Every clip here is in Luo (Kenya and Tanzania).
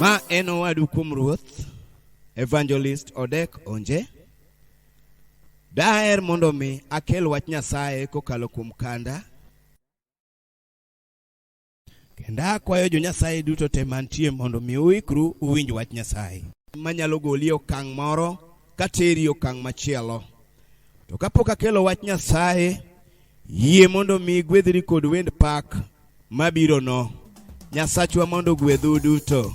Ma en owadu kuom Ruoth, Evangelist Odek Onje. Daher mondo mi akel wach Nyasaye kokalo kuom kanda Kendo akwayo jo Nyasaye duto te mantie mondo mi uikru uwinj wach Nyasaye. Manyalo goli okang' moro kateri okang' machielo. To kapok akelo wach Nyasaye, yie mondo mi gwedhri kod wend pak mabirono. Nyasachwa mondo ogwedhu duto.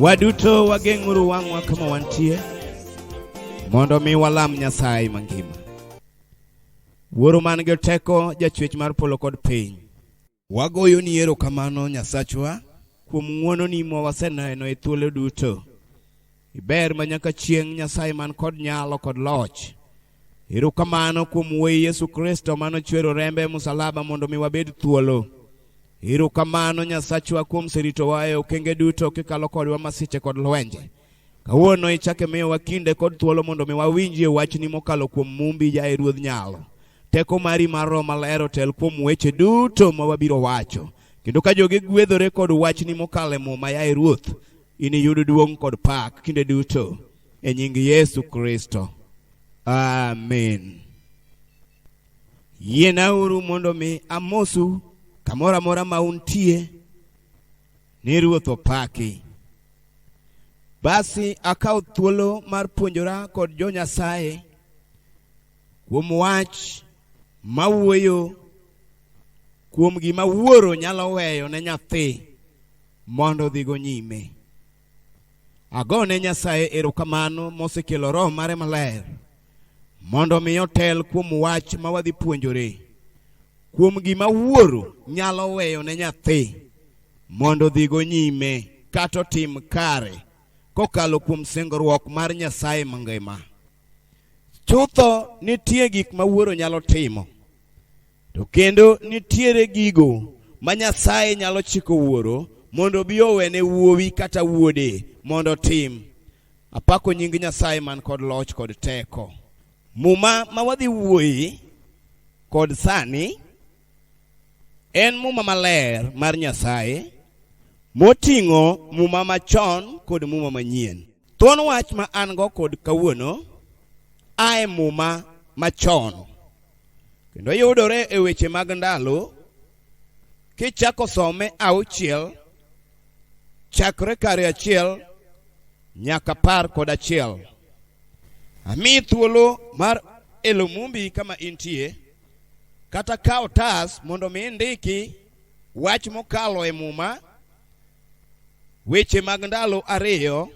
Waduto wageng'uru wang'wa kama wantie mondo mi walam Nyasaye mangima. Wuoro man gi teko, jachwech mar polo kod piny. Wagoyo ni erokamano Nyasachwa kuom ng'wononi ma waseneno e thuolo duto. Iber ma nyaka chieng' Nyasaye man kod nyalo kod loch. Erokamano kuom Wuoyi Yesu Kristo mano chwero rembe e musalaba mondo mi wabed thuolo. Erokamano Nyasachwa kuom seritowa e okenge duto kikalo kodwa masiche kod lwenje. Kawuono ichake miyowa kinde kod thuolo mondo mi wawinjie wachni mokalo kuom mumbi jaye Ruodh Nyalo. Teko mari mar Roho Maler otel kuom weche duto ma wabiro wacho. Kendo ka jogi gwedhore kod wachni mokalo e muma yaye Ruoth, iniyud duong' kod pak kinde duto e nying Yesu Kristo. Amen. Yienauru mondo mi amosu kamoro amora ma untie ni Ruoth opaki. Basi akawo thuolo mar puonjora kod jo Nyasaye kuom wach ma wuoyo kuom gima wuoro nyalo weyo ne nyathi mondo odhigo nyime. Ago ne Nyasaye erokamano mosekelo Roho mare maler mondo mi otel kuom wach ma wadhi puonjore kuom gima wuoro nyalo weyo ne nyathi mondo odhigo nyime kata otim kare kokalo kuom singruok mar Nyasaye mangima. Chutho nitie gik ma wuoro nyalo timo, to kendo nitiere gigo ma Nyasaye nyalo chiko wuoro mondo obi owene wuowi kata wuode mondo otim. Apako nying Nyasaye man kod loch kod teko. Muma ma wadhi wuoye kod sani en muma maler mar Nyasaye moting'o muma machon kod muma manyien. Thuon wach ma an go kod kawuono a e muma machon kendo yudore e weche mag ndalo kichako some auchiel chakre kare achiel nyaka par kod achiel ami thuolo mar elo mumbi kama intie kata kawo tas mondo mi indiki wach mokalo e muma Weche mag ndalo ariyo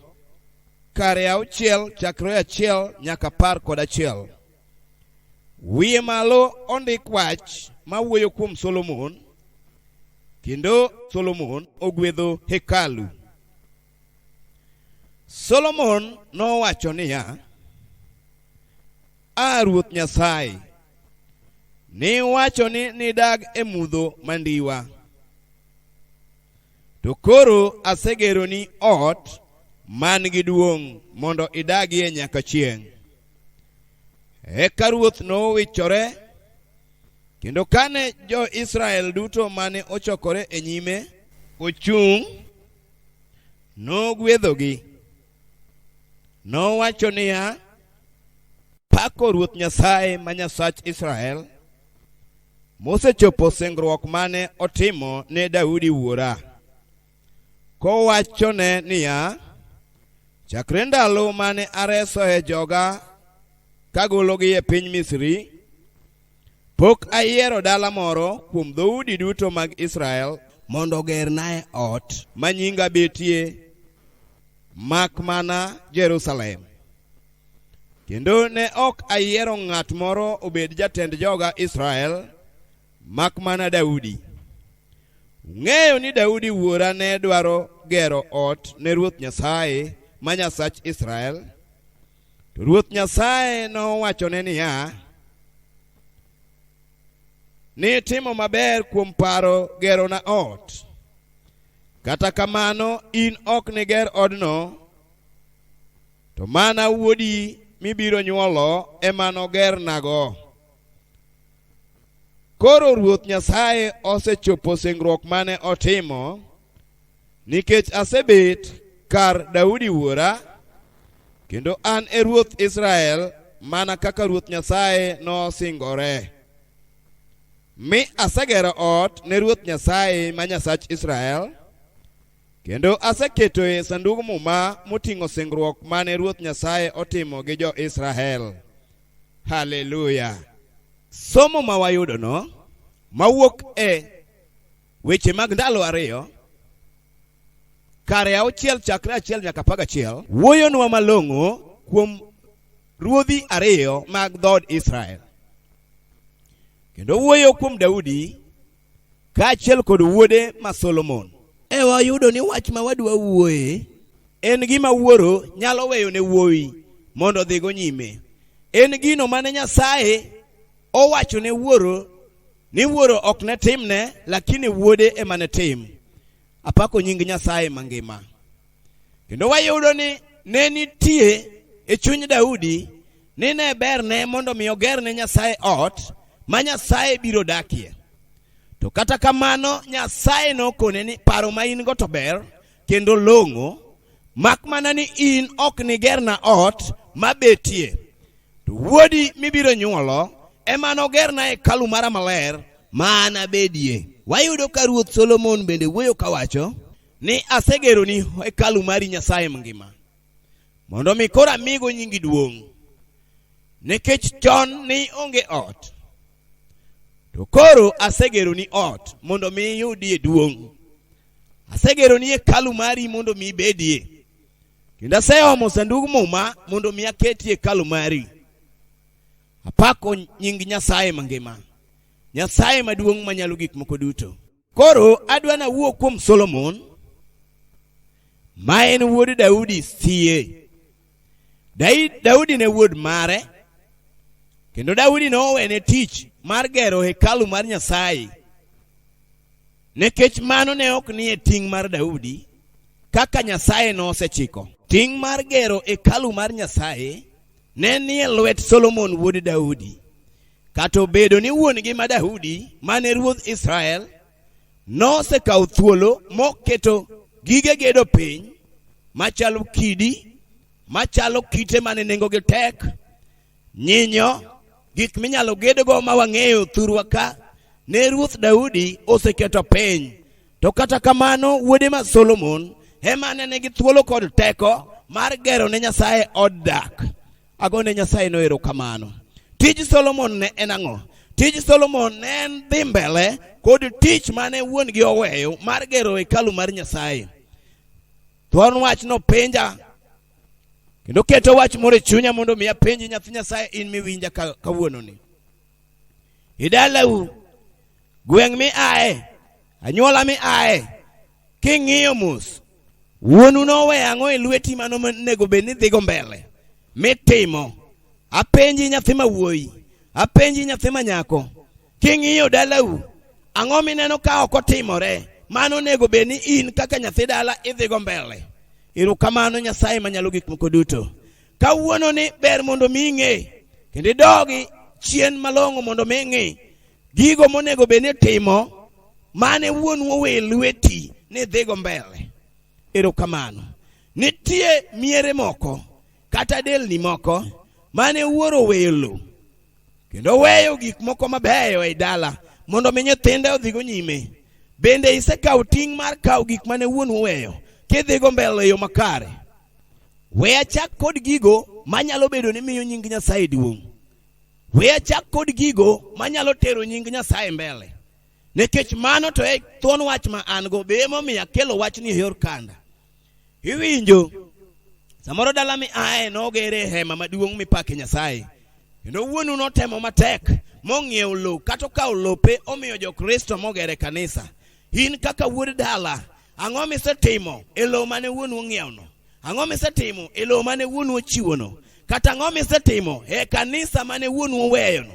kare auchiel chakre achiel nyaka apar kod achiel. Wiye malo ondik wach ma wuoyo kuom Solomon kendo Solomon ogwedho hekalu. Solomon nowacho niya, A Ruoth Nyasaye, niwacho ni nidag e mudho mandiwa. To koro asegeroni ot man gi duong' mondo idagie nyaka chieng'. Eka ruoth nowichore, kendo kane jo-Israel duto mane ochokore e nyime ochung', nogwedhogi. Nowacho niya, Pako Ruoth Nyasaye ma Nyasach Israel, mosechopo singruok mane otimo ne Daudi wuora, kowachone niya, Chakre ndalo mane aresoe joga kagologi e piny Misri, Pok ayiero dala moro kuom dhoudi duto mag Israel mondo ogernae ot ma nyinga betie mak mana Jerusalem. Kendo ne ok ayiero ng'at moro obed jatend joga Israel mak mana Daudi. Ung'eyo ni Daudi wuora ne dwaro gero ot ne Ruoth Nyasaye ma Nyasach Israel. To Ruoth Nyasaye nowachone niya, Nitimo maber kuom paro gerona ot. Kata kamano in ok niger odno, to mana wuodi mibiro nyuolo ema nogernago. Koro Ruoth Nyasaye osechopo singruok mane otimo Nikech asebet kar Daudi wuora, kendo an e ruoth Israel mana kaka Ruoth Nyasaye nosingore. Mi asegero ot ne Ruoth Nyasaye ma Nyasach Israel, kendo aseketoe Sandug Muma moting'o singruok mane Ruoth Nyasaye otimo gi jo-Israel. Haleluya! Somo ma wayudono mawuok e Weche mag ndalo ariyo kare auchiel chakre achiel nyaka apar gachiel wuoyonwa malong'o kuom ruodhi ariyo mag dhood Israel kendo wuoyo kuom Daudi kaachiel kod wuode ma Solomon. E wayudo ni wach ma wadwa wuoye en gima wuoro nyalo weyo ne wuowi mondo odhigo nyime. En gino mane Nyasaye owacho ne wuoro ni wuoro ok ne timne lakini wuode ema ne tim apako nying nyasaye mangima kendo wayudo ni ne nitie e chuny daudi ni ne berne mondo mi oger ne nyasaye ot ma nyasaye biro dakie to kata kamano nyasaye nokone ni paro ma in go to ber kendo long'o, mak mana ni in ok nigerna ot mabetie, to wuodi mibiro nyuolo ema nogerna hekalu mara maler ma anabedie. Wayudo ka Ruoth Solomon bende wuoyo kawacho ni asegeroni hekalu mari Nyasaye mangima mondo mi koro amigo nyingi duong' nikech chon ni onge ot to koro asegeroni ot mondo mi iyudie duong' Asegero ni hekalu mari mondo mi ibedie, kendo aseomo sandug muma mondo mi aketie hekalu mari. Apako nying Nyasaye mangima, Nyasaye maduong' manyalo gik moko duto. Koro adwa nawuo kuom Solomon ma en wuod Daudi sie. Dai- Daudi ne wuod mare kendo Daudi ne owene tich mar gero hekalu mar Nyasaye nikech mano ne ok nie ting' mar Daudi kaka Nyasaye nosechiko. Ting' mar gero hekalu mar Nyasaye ne nie lwet Solomon wuod Daudi. Kata obedo ni wuon-gi ma Daudi mane ruodh Israel nosekawo thuolo moketo gige gedo piny machalo kidi machalo kite mane nengogi tek nyinyo gik minyalo gedgo ma wang'eyo thurwa ka ne ruoth daudi oseketo piny to kata kamano wuode ma solomon ema ne nigi thuolo kod teko mar gero ne nyasaye od dak Agone Nyasaye no erokamano. Tij Solomon ne en ang'o? Tij Solomon ne en dhi mbele kod tich mane wuon gi oweyo mar gero hekalu mar Nyasaye. Thuon wach no penja kendo keto wach moro e chunya mondo mi apenji nyathi Nyasaye in miwinja ka- kawuononi. Idalau gweng' mi aye, anyuola mi aye, King'iyo mos, wuonu nowe ang'o e lweti mano onego bed ni dhigo mbele mitimo? Apenji nyathi ma wuoyi, apenji nyathi ma nyako, king'iyo dalau, ang'o mineno ka ok otimore? Mano onego bed ni in kaka nyathi dala idhigo mbele. Erokamano Nyasaye manyalo gik moko duto. Kawuono ni ber mondo mi ing'e kendo idogi chien malong'o mondo mi ing'i gigo monego bed ni timo mane wuonu owe lweti ni dhigo mbele erokamano nitie miere moko kata delni moko mane wuoro oweyo lo kendo weyo gik moko mabeyo ei dala mondo mi nyithinde odhigo nyime bende isekawo ting' mar kawo gik mane wuon oweyo kidhigo mbele e yo makare we achak kod gigo manyalo bedo ni miyo nying nyasaye duong' We achak kod gigo manyalo tero nying Nyasaye mbele. Nikech mano to e thuon wach ma an go, be emomiyo akelo wachni e yor kanda. Iwinjo, samoro dala mi aye nogere hema maduong' mipake Nyasaye. Kendo wuonu notemo matek mong'iewo lowo kata okawo lope omiyo jo-Kristo mogere kanisa. In kaka wuod dala, ang'o misetimo e lowo mane wuonu ong'iewno? Ang'o misetimo e lowo mane wuonu ochiwono? Kata ang'o misetimo e kanisa mane wuonu oweyono?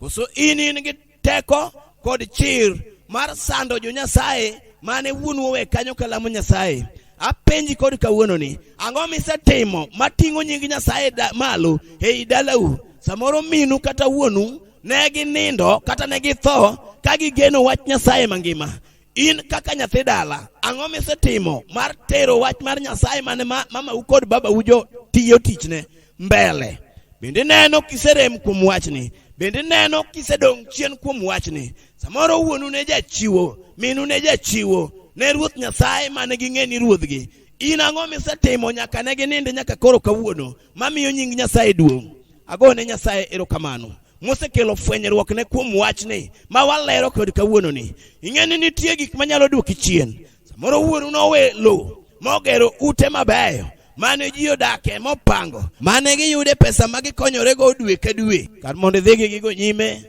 Koso in in gi teko kod chir mar sando jo Nyasaye mane wuonu owe kanyo kalamo Nyasaye? Apenji kod kawuononi, ang'o misetimo mating'o nying Nyasaye da, malo ei dalau? Samoro minu kata wuonu ne ginindo kata ne githo ka gigeno wach Nyasaye mangima. In kaka nyathi dala, ang'o misetimo mar tero wach mar Nyasaye mane ma- mamau kod babau jo tiyo tichne mbele? Bende neno kiserem kuom wachni, bende neno kisedong' chien kuom wachni. Samoro wuonu ne jachiwo, minu ne jachiwo ne Ruoth Nyasaye mane ging'e ni ruodhgi. In ang'o misetimo nyaka ne ginind nyaka koro kawuono? mamiyo nying Nyasaye duong'. Ago ne Nyasaye erokamano mosekelo fwenyruok ne kuom wachni ma walero kod kawuononi. Ing'e ni nitie gik manyalo duoki chien. Samoro wuonu nowe lowo mogero ute mabeyo mane ji odake mopango mane giyude pesa ma gikonyorego dwe ka dwe kar mondo idhigi gigo nyime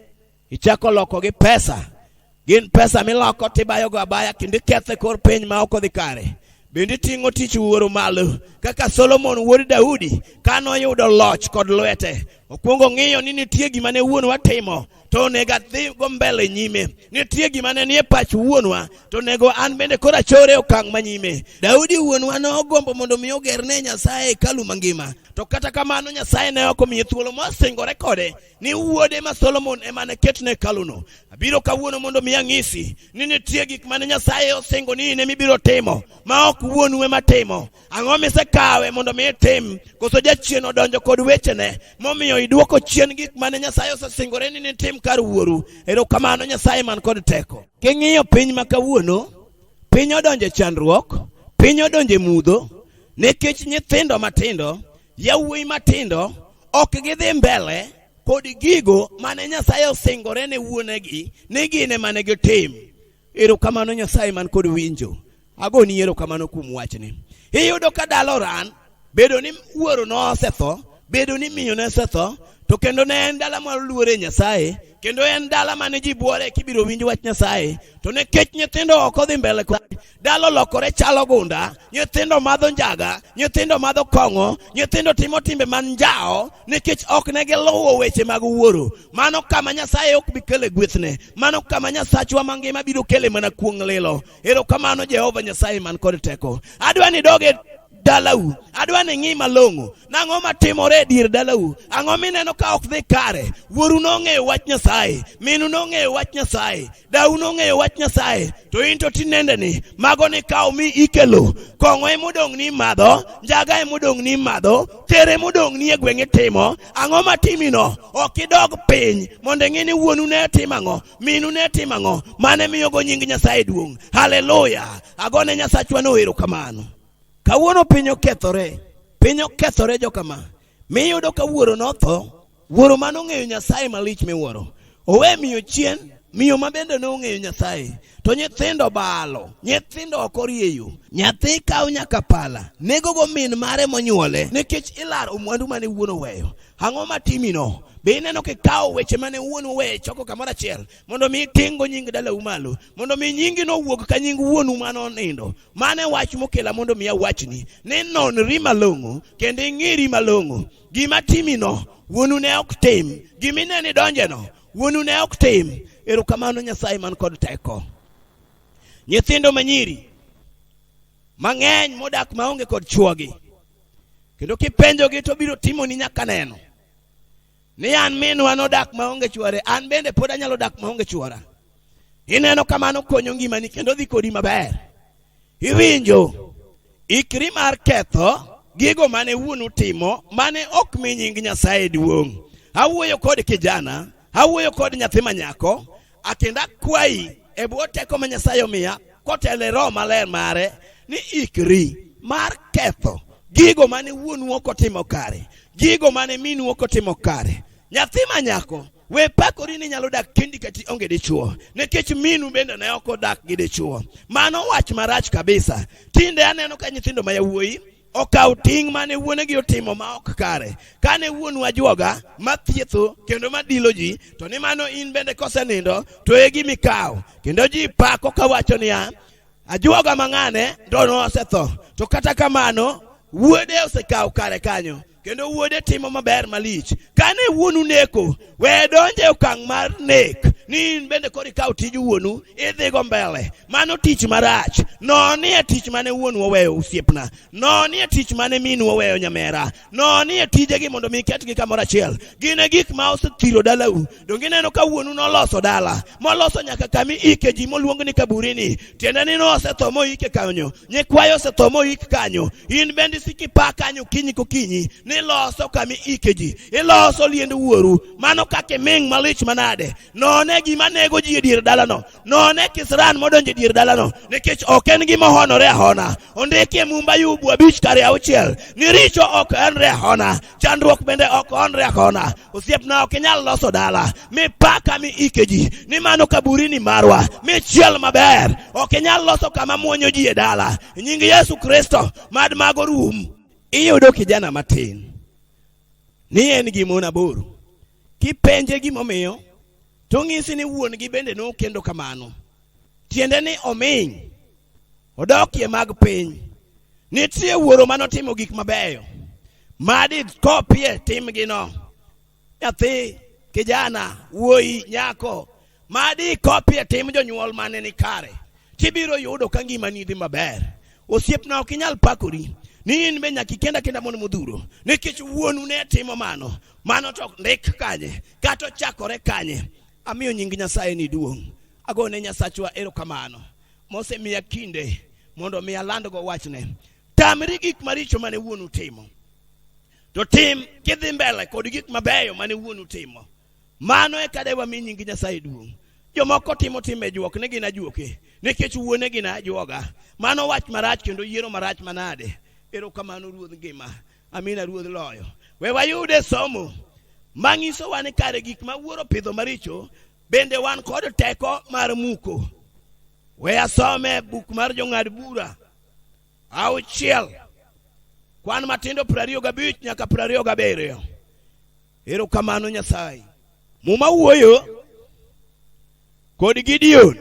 Ichako loko gi pesa. Gin pesa miloko tibayogo abaya kendo iketho e kor piny ma ok odhi kare. Bende iting'o tich wuoro malo kaka Solomon wuod Daudi ka noyudo loch kod lwete. Okwongo ng'iyo ni nitie gima ne wuonwa timo to onego adhigo mbele nyime. Nitie gima ne nie pach wuonwa to onego an bende koro achore okang' ma nyime. Daudi wuonwa nogombo mondo mi ogerne Nyasaye hekalu mangima. To kata kamano Nyasaye ne ok omiye thuolo mosingore kode ni wuode ma Solomon ema ne ketne hekaluno. Abiro kawuono mondo mi ang'isi ni nitie gik mane Nyasaye osingo ni in ema ibiro timo ma ok wuonu ema timo. Ang'o misekawe mondo mi itim? Koso jachien odonjo kod wechene momiyo idwoko chien gik mane Nyasaye osesingore ni nitim kar wuoru? Erokamano Nyasaye man kod teko. King'iyo piny ma kawuono, piny odonjo e chandruok, piny odonjo e mudho nikech nyithindo matindo, yawuoyi matindo ok gidhi mbele kod gigo mane Nyasaye osingore ne wuonegi ni gin ema ne gitim. Erokamano Nyasaye man kod winjo. Agoni erokamano kuom wachni. Iyudo ka dalo ran bedo ni wuoro nosetho, bedo ni miyo nosetho, to kendo ne en dala ma luore Nyasaye, kendo en dala mane ji buore kibiro winj wach Nyasaye, to ne kech nyithindo ok odhi mbele kod dalo lokore chalo gunda nyithindo madho njaga nyithindo madho kong'o nyithindo timo timbe man njawo nikech ok ne giluwo weche mag wuoro mano kama nyasaye ok bi kele gwethne mano kama nyasachwa mangima biro kele mana kuong' lilo erokamano jehova nyasaye man kod teko adwa ni doge dalau adwa ni ng'i malong'o nang'o matimore e dier dalau ang'o mineno ka ok dhi kare wuoru nong'eyo wach nyasaye minu nong'eyo wach nyasaye dau nong'eyo wach nyasaye to in to tinendeni mago ni kawo mi ikelo kong'o emodong' ni imadho njaga emodong' ni imadho ter emodong' ni e gweng' itimo ang'o matimino ok idog piny mondo ing'e ni wuonu ne timo ang'o minu ne timo ang'o mane miyogo nying nyasaye duong' haleluya agone nyasachwa noero kamano kawuono piny okethore piny okethore jokama Mi yudo ka wuoro notho, wuoro ma nong'eyo Nyasaye malich miwuoro. Owe miyo chien, miyo ma bende ne ong'eyo Nyasaye. To nyithindo balo, nyithindo ok orieyo. Nyathi kawo nyaka pala, negogo min mare monyuole, nikech ilaro mwandu mane wuon oweyo. Ang'o ma timino? Be ineno kikawo weche mane wuon oweyo ichoko kamoro achiel? mondo mi iting'go nying dalau malo mondo mi nyingi nowuog ka nying wuonu ma nonindo mane wach mokela mondo mi awachni ni nonri malong'o kendo ing'iri malong'o gima timino wuonu ne ok tim gima ineni donjeno wuonu ne ok tim erokamano nyasaye man kod teko nyithindo manyiri mang'eny modak maonge kod chuogi kendo kipenjogi to biro timoni nyaka neno ni an minwa nodak maonge chwore an bende pod anyalo dak maonge chwora ineno kamano konyo ngimani kendo dhi kodi maber iwinjo ikri mar ketho gigo mane wuonu timo mane ok mi nying nyasaye duong' awuoyo kod kijana awuoyo kod nyathi manyako Akendo akwayi e bwo teko ma Nyasaye omiya kotele roho maler mare ni ikri mar ketho gigo mane wuonu ok otimo kare, gigo mane minu ok otimo kare. Nyathi ma nyako, we pakori ni nyalo dak kendi kati onge dichuo, nikech minu bende ne ok odak gi dichuo. Mano wach marach kabisa. Tinde aneno ka nyithindo ma yawuoyi okawo ting' mane wuonegi otimo ma ok kare. Kane wuonu ajwoga ma thietho kendo ma dilo ji, to ni mano in bende kosenindo, to e gimi kawo. Kendo ji pako kawacho niya, ajwoga mang'ane to nosetho, to kata kamano wuode osekawo kare kanyo. kendo wuode timo maber malich kane wuonu neko we donje e okang' mar nek ni in bende koro ikaw tij wuonu idhigo mbele mano tich marach nonie tich mane wuonu oweyo osiepna nonie tich mane minu oweyo nyamera nonie tijegi mondo mi iketgi kamoro achiel gin e gik ma osethiro dalau Donge ineno ka wuonu noloso dala moloso nyaka kami ike ji moluong ni kaburini, tiende ni nosetho moike kanyo, nyikwayo osetho moik kanyo. In bende isiko ipa kanyo kinyi kokinyi ni loso kami ike ji, iloso liend wuoru. Mano kaka iming' malich manade! None gima nego ji e dier dalano, none kisran modonjo e dier dalano, nikech ok en gima ohonore ahona. Ondiki e Mumba Ayub abich kare auchiel ni richo ok honre ahona, chandruok bende ok honre ahona. osiep na ok inyal loso dala mipaka mi ike ji ni mano kaburini marwa michiel maber ok inyal loso kama mwonyo ji e dala nying yesu kristo mad mago rum iyudo kijana matin ni en gi mon aboro kipenje gimomiyo to ng'isi ni wuon gi bende nokendo kamano tiende ni ominy odokie mag piny nitie wuoro ma notimo gik mabeyo madi kopie timgino nyathi kijana wuoyi nyako madi kopie tim jonyuol mane ni kare tibiro yudo ka ngimani dhi maber osiepna ok inyal pakori ni in be nyaka ikenda kenda mondo modhuro nikech wuonu ne timo mano mano to ndik kanye kata ochakore kanye amiyo nying nyasaye ni duong' agone nyasachwa erokamano mosemiya kinde mondo mi alandgo wachne tamri gik maricho mane wuonu timo to tim kidhi mbele kod gik mabeyo mane wuonu timo mano e kada wami nying nyasaye duong' jomoko timo timbe juok ni gin ajuoke nikech wuone gin ajuoga mano wach marach kendo yiero marach manade erokamano ruodh ngima amina ruodh loyo we wayude somo manyisowa ni kare gik ma wuoro pidho maricho Bende wan kod teko mar muko. We asome buk mar jong'ad bura auchiel kwan matindo piero ariyo gabich nyaka piero ariyo gabiriyo. Erokamano Nyasaye. Muma wuoyo kod Gideon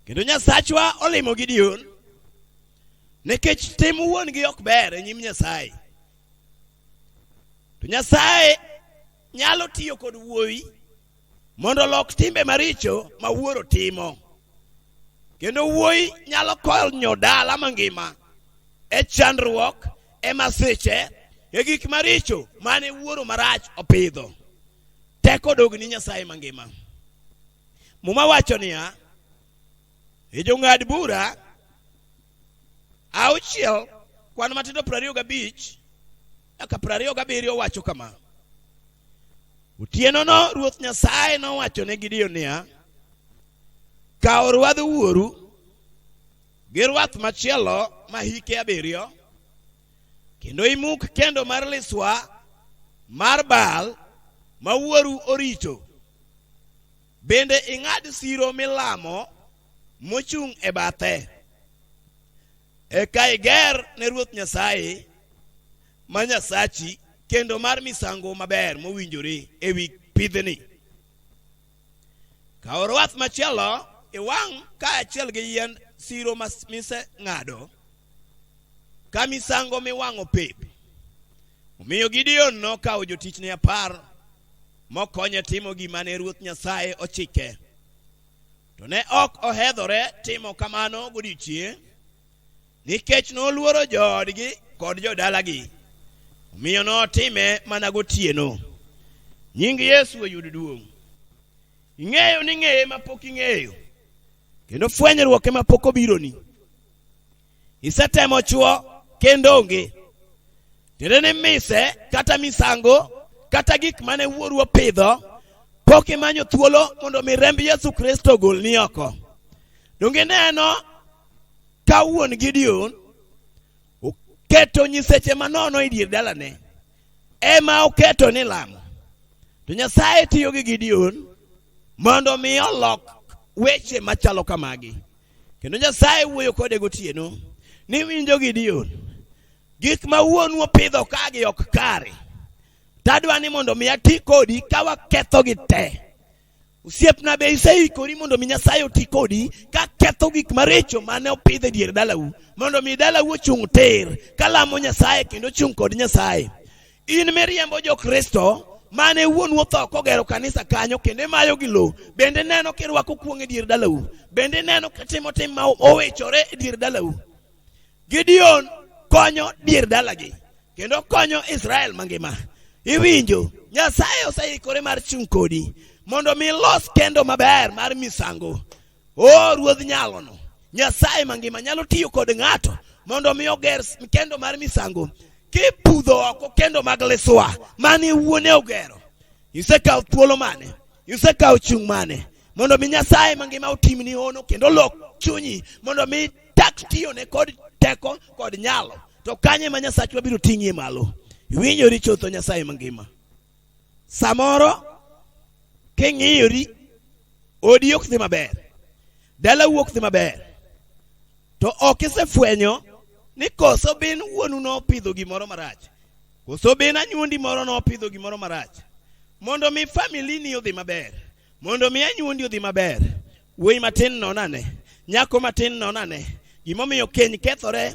kendo Nyasachwa olimo Gideon nikech tim wuon-gi ok ber e nyim Nyasaye. To Nyasaye nyalo tiyo kod wuoyi mondo olok timbe maricho ma wuoro timo kendo wuoyi nyalo konyo dala mangima e chandruok e masiche e gik maricho mane wuoro marach opidho teko dog ni nyasaye mangima muma wacho niya e jong'ad bura auchiel kwan matindo piero ariyo gabich Aka piero ariyo gabiriyo wacho kama, Otienono Ruoth Nyasaye nowacho ne Gideon niya, Kaw rwadh wuoru gi rwath machielo ma hike abiriyo, kendo imuk kendo mar liswa mar Baal ma wuoru orito Bende ing'ad siro milamo mochung' e bathe. Eka iger ne Ruoth Nyasaye ma Nyasachi kendo mar misango maber mowinjore e wi pidhni. Kaw rwath machielo iwang' kaachiel gi yiend siro mas- miseng'ado ka misango miwang'o pep. Omiyo Gideon nokawo jotichne apar mokonye timo gima ne Ruoth Nyasaye ochike. To ne ok ohedhore timo kamano godiechieng' nikech noluoro joodgi kod jodalagi, omiyo notime mana gotieno. Nying Yesu oyud duong'. Ing'eyo ni ng'eye ma pok ing'eyo, kendo fwenyruok ema pok obironi. isetemo chwo kendo onge tiende ni mise kata misango kata gik mane wuoru opidho pok imanyo thuolo mondo mi remb yesu kristo ogol ni oko donge neno ka wuon gideon oketo nyiseche manono e dier dalane ema oketo ni lamo to nyasaye tiyo gi gideon mondo mi olok weche machalo kamagi kendo nyasaye wuoyo kode gotieno ni winjo gideon gik ma wuonu opidho kagi ok kare tadwa ni mondo mi ati kodi ka wakethogi te osiepna be iseikori mondo mi nyasaye oti kodi ka ketho gik maricho mane opidh e dier dalau mondo mi dalau ochung' tir ka lamo nyasaye kendo ochung' kod nyasaye In miriembo jo Kristo mane wuonu otho kogero kanisa kanyo kendo imayo gi lowo bende neno kirwako kuong' e dier dalau bende neno kitimo tim ma owechore e dier dalau gideon konyo dier dalagi kendo konyo israel mangima iwinjo nyasaye oseikore mar chung' kodi mondo mi los kendo maber mar misango o ruodh nyalono nyasaye mangima nyalo tiyo kod ng'ato mondo mi oger s- kendo mar misango kipudho oko kendo mag liswa mane wuone ogero isekawo thuolo mane isekawo chung' mane mondo mi nyasaye mangima otimni hono kendo lok chunyi mondo mi tak tiyone kod teko kod nyalo to kanye ma nyasachwa biro ting'ie malo iwinjori chutho nyasaye mangima samoro king'iyori odi ok dhi maber dalau ok dhi maber to ok isefwenyo ni koso bin wuonu nopidho gimoro marach koso bin anyuondi moro nopidho gimoro marach mondo mi famili ni odhi maber mondo mi anyuondi odhi maber wuoyi matin non ane nyako matin non ane gimomiyo keny kethore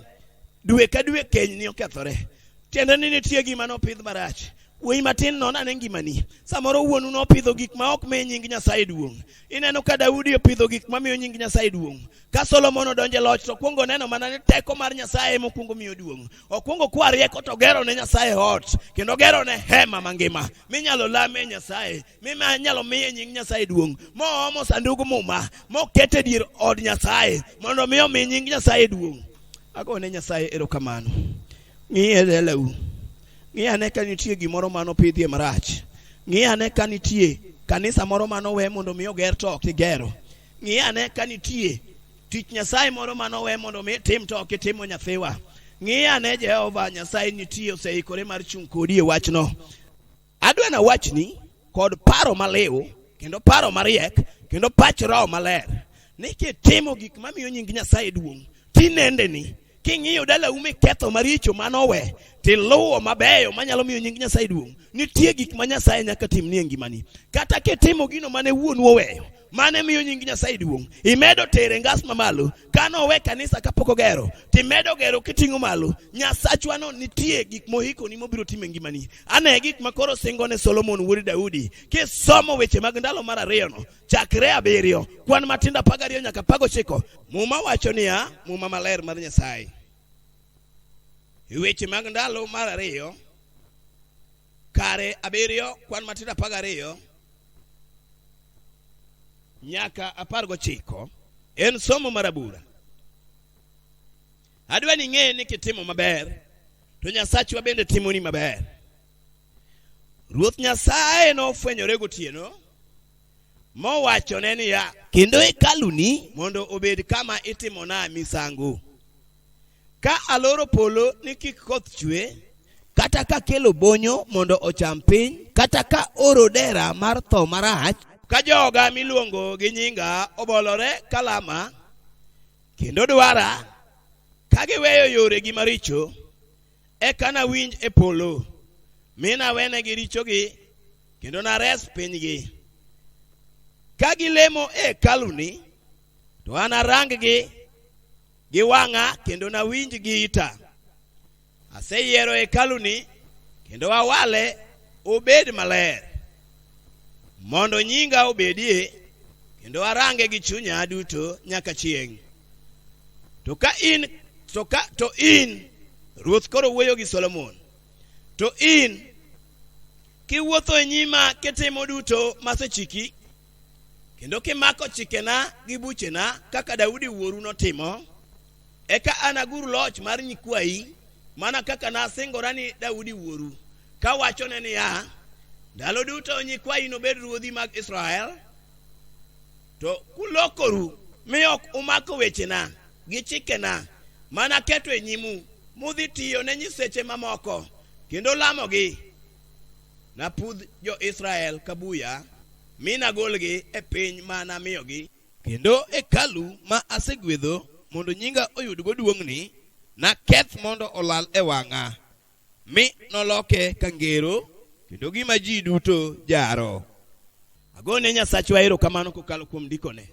dwe ka dwe keny ni okethore tiende ni nitie gima nopidh marach wuoyi matin non ane ngimani samoro wuonu nopidho gik ma ok mi nying nyasaye duong' ineno ka daudi opidho gik ma miyo nying nyasaye duong' ka solomon odonje loch to okwongo neno mana ni teko mar nyasaye mokwongo miyo duong' okwongo kwa rieko to gero ne nyasaye ot kendo gero ne hema mangima minyalo lame nyasaye mima nyalo miye nying nyasaye duong' moomo sandug muma mokete dier od nyasaye mondo mi omi nying nyasaye duong' agone nyasaye erokamano ng'iye lelau ng'i ane ka nitie gimoro ma nopidhie marach ng'i ane ka nitie kanisa moro ma nowe mondo mi oger to ok igero ng'i ane ka nitie tich nyasaye moro ma nowe mondo mi itim to ok itimo nyathiwa ng'i ane jehova nyasaye nitie oseikore mar chung' kodi e wachno Adwa na wachni kod paro maliw kendo paro mariek kendo pach roho maler ni kitimo gik mamiyo nying Nyasaye duong' tinendeni king'iyo dalau miketho maricho manowe tiluwo mabeyo manyalo miyo nying Nyasaye duong' nitie gik ma Nyasaye nyaka timni e ngimani kata kitimo gino mane wuonu oweyo mane miyo nying Nyasaye duong'. Imedo tere ngas mamalo kane owe kanisa kapok ogero, timedo gero kiting'o malo. Nyasachwa no nitie gik mohiko ni mobiro time ngimani. Ane gik ma koro singo ne Solomon wuod Daudi. Kisomo weche mag ndalo mar ariyo no, chakre abiriyo, kwan matindo apar gariyo nyaka apar gochiko, Muma wacho niya, Muma maler mar Nyasaye. Weche mag ndalo mar ariyo kare abiriyo kwan matindo apar gariyo nyaka apar gochiko en somo mar abura adwa ni ing'e ni kitimo maber to nyasachwa bende timoni maber ruoth nyasaye nofwenyore gotieno mowachone niya kendo hekaluni mondo obed kama itimona misango Ka aloro polo ni kik koth chwe, kata ka kelo bonyo mondo ocham piny, kata ka oro dera mar tho marach, ka joga miluongo gi nyinga obolore kalama kendo dwara ka giweyo yoregi maricho, eka nawinj e polo mi nawenegi richogi kendo nares pinygi. Ka gilemo e hekaluni, to anarang-gi gi wang'a kendo nawinj gi ita. Aseyiero hekaluni kendo awale obed maler, mondo nyinga obedie kendo arange gi chunya duto nyaka chieng'. To ka in to ka to in ruoth koro wuoyo gi Solomon, to in kiwuotho e nyima kitimo duto masechiki kendo kimako chikena gi buchena kaka Daudi wuoru notimo, eka anagur loch mar nyikwayi mana kaka nasingora ni Daudi wuoru, kawachone niya, ndalo duto nyikwayi nobed ruodhi mag Israel. To kulokoru mi ok umako wechena gi chikena mana keto e nyimu, mudhi tiyo ne nyiseche mamoko kendo lamogi Napudh jo-Israel ka buya, mi nagolgi e piny ma namiyogi. Kendo hekalu ma asegwedho mondo nyinga oyudgo duong'ni, naketh mondo olal e wang'a, mi noloke ka ngero, kendo gima ji duto jaro. Agone Nyasachwa erokamano kokalo kuom ndikone.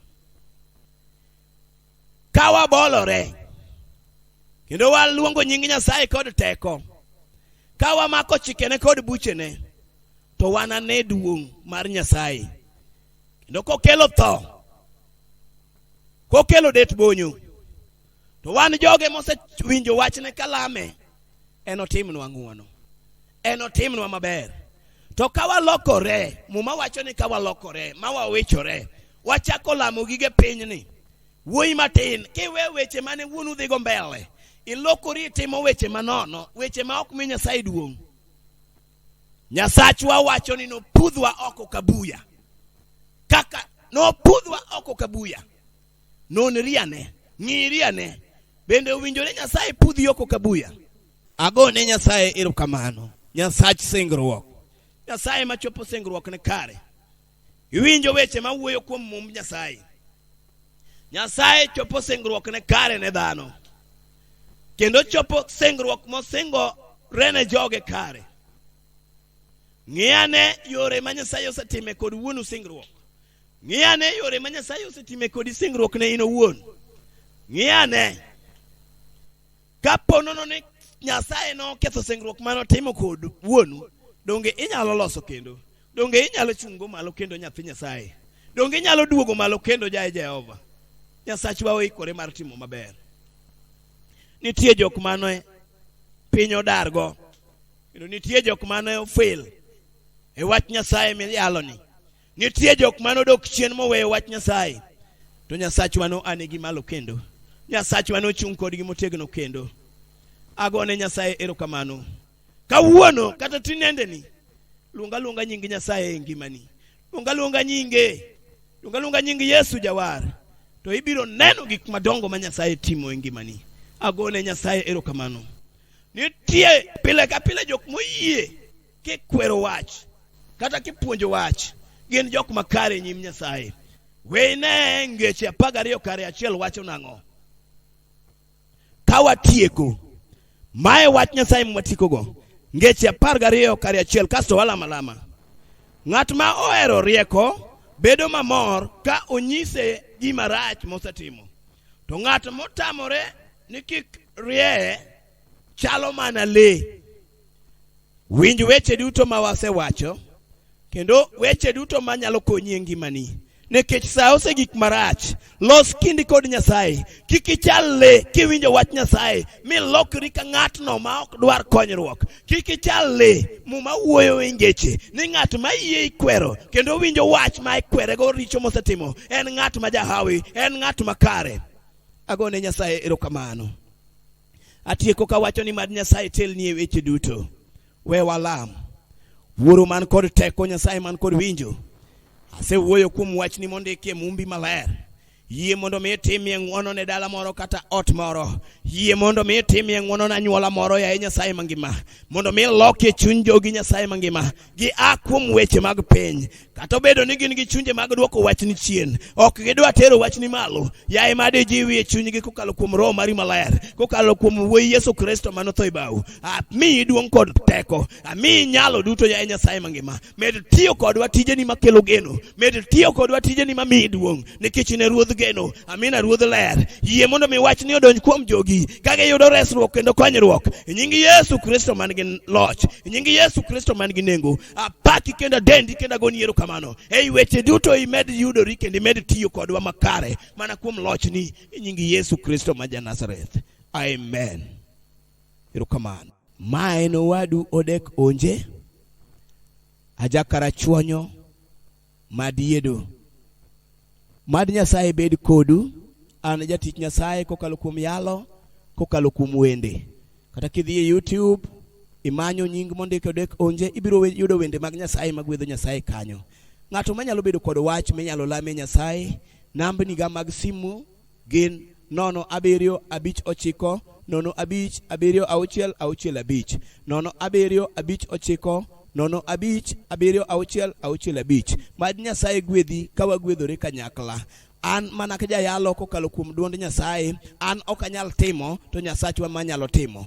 ka wabolore kendo waluongo nying nyasaye kod teko ka wamako chikene kod buchene to wanane duong' mar nyasaye kendo kokelo tho kokelo det bonyo to wan joge mosewinjo wachne kalame enotimnwa ng'wono enotimnwa maber to ka walokore muma wacho ni ka walokore ma wawechore wachako lamo gige pinyni wuoyi matin kiwe weche mane wuon udhigo mbele ilokori itimo weche manono weche ma ok mi nyasaye duong' nyasachwa wacho ni nopudhwa oko kabuya kaka nopudhwa oko kabuya nonri ane ng'iri ane bende owinjore nyasaye pudhi oko kabuya Agone Nyasaye erokamano, Nyasach singruok, Nyasaye machopo singruokne kare. Iwinjo weche ma wuoyo kuom mumb Nyasaye. Nyasaye chopo singruokne kare ne dhano, kendo chopo singruok mosingore ne joge kare. Ng'iyane yore ma Nyasaye osetime kod wuonu singruok. Ng'iyane yore ma Nyasaye osetime kodi singruok ne in owuon. Ng'iyane Ka po nono ni Nyasaye noketho singruok mane otimo kod wuonu, donge inyalo loso kendo? Donge inyalo chungo malo kendo nyathi Nyasaye? Donge inyalo duogo malo kendo jaye Jehova? Nyasachwa oikore mar timo maber. Nitie jok mane piny odargo, kendo nitie jok mane ofel e wach Nyasaye miyaloni. Nitie jok ma nodok chien moweyo wach Nyasaye, to Nyasachwa no ane gi malo kendo. Nyasachwa nochung' kodgi motegno kendo. Agone Nyasaye erokamano. Kawuono kata tinendeni, luonga luonga nying Nyasaye e ngimani. Luonga luonga nyinge. Luonga luonga nying Yesu Jawar. To ibiro neno gik madongo ma Nyasaye timo e ngimani. Agone Nyasaye erokamano. Nitie pile ka pile jok moyie kikwero wach kata kipuonjo wach gin jok makare e nyim nyasaye weyne ngeche apar gariyo kare achiel wacho nang'o ka watieko mae wach nyasaye mwatikogo ngeche apar gariyo kare achiel kasto walama lama ng'at ma ohero rieko bedo mamor ka onyise gima rach mosetimo to ng'at motamore ni kik rieye chalo mana lee Winj weche duto ma wasewacho kendo weche duto ma nyalo konyi e ngimani. Nikech sa ose gik marach, los kindi kod Nyasaye. Kik ichal le kiwinjo wach Nyasaye mi lokri ka ng'atno ma ok dwar konyruok. Kik ichal le muma wuoyo e ngeche ni ng'at ma yie ikwero kendo winjo wach ma ikwerego richo mosetimo en ng'at ma jahawi, en ng'at makare. Agone Nyasaye erokamano. Atieko ka wacho ni mad Nyasaye telni e weche duto. We walam. Wuoro man kod teko, Nyasaye man kod winjo. Asewuoyo kuom wachni mondiki e Mumbi Maler. Yie mondo mi itimie ng'wono ne dala moro kata ot moro. Yie mondo mi itimie ng'wono ne anyuola moro, yaye Nyasaye mangima. Mondo mi ilokie chuny jogi, Nyasaye mangima. gi a kuom weche mag piny kata obedo ni gin gi chunje mag dwoko wachni chien ok gidwa tero wachni malo yaye ma dijiwi e chunygi kokalo kuom roho mari maler kokalo kuom wuoyi yesu kristo ma notho e bau amiyi duong' kod teko amiyi nyalo duto yaye nyasaye mangima med tiyo kodwa tijeni makelo geno Med tiyo kodwa tijeni ma miyi duong' nikech ne ruodh geno. Amina ruodh ler. Yie mondo mi wach ni odonj kuom jogi ka giyudo resruok kendo konyruok. E nying Yesu Kristo man gi loch. E nying Yesu Kristo man gi nengo. Apaki kendo adendi kendo agoni erokamano. Ei weche duto imed yudori kendo imed tiyo kodwa makare mana kuom lochni e nying Yesu Kristo ma ja Nazareth. Amen. Erokamano. Ma en owadu Odek Onje. Aja Karachuonyo mad yiedo. Mad Nyasaye bed kodu. An jatich Nyasaye kokalo kuom yalo, kokalo kuom wende. Kata kidhi e YouTube imanyo nying mondike odek onje ibiro we- yudo wende mag Nyasaye magwedho Nyasaye kanyo. Ng'ato manyalo bedo kod wach minyalo lame Nyasaye, nambniga mag simu gin nono abiriyo abich ochiko nono abich abiriyo auchiel auchiel abich nono abiriyo abich ochiko nono abich abiriyo auchiel auchiel abich mad nyasaye gwedhi ka wagwedhore kanyakla an mana ka jayalo kokalo kuom duond nyasaye an ok anyal timo to nyasachwa manyalo timo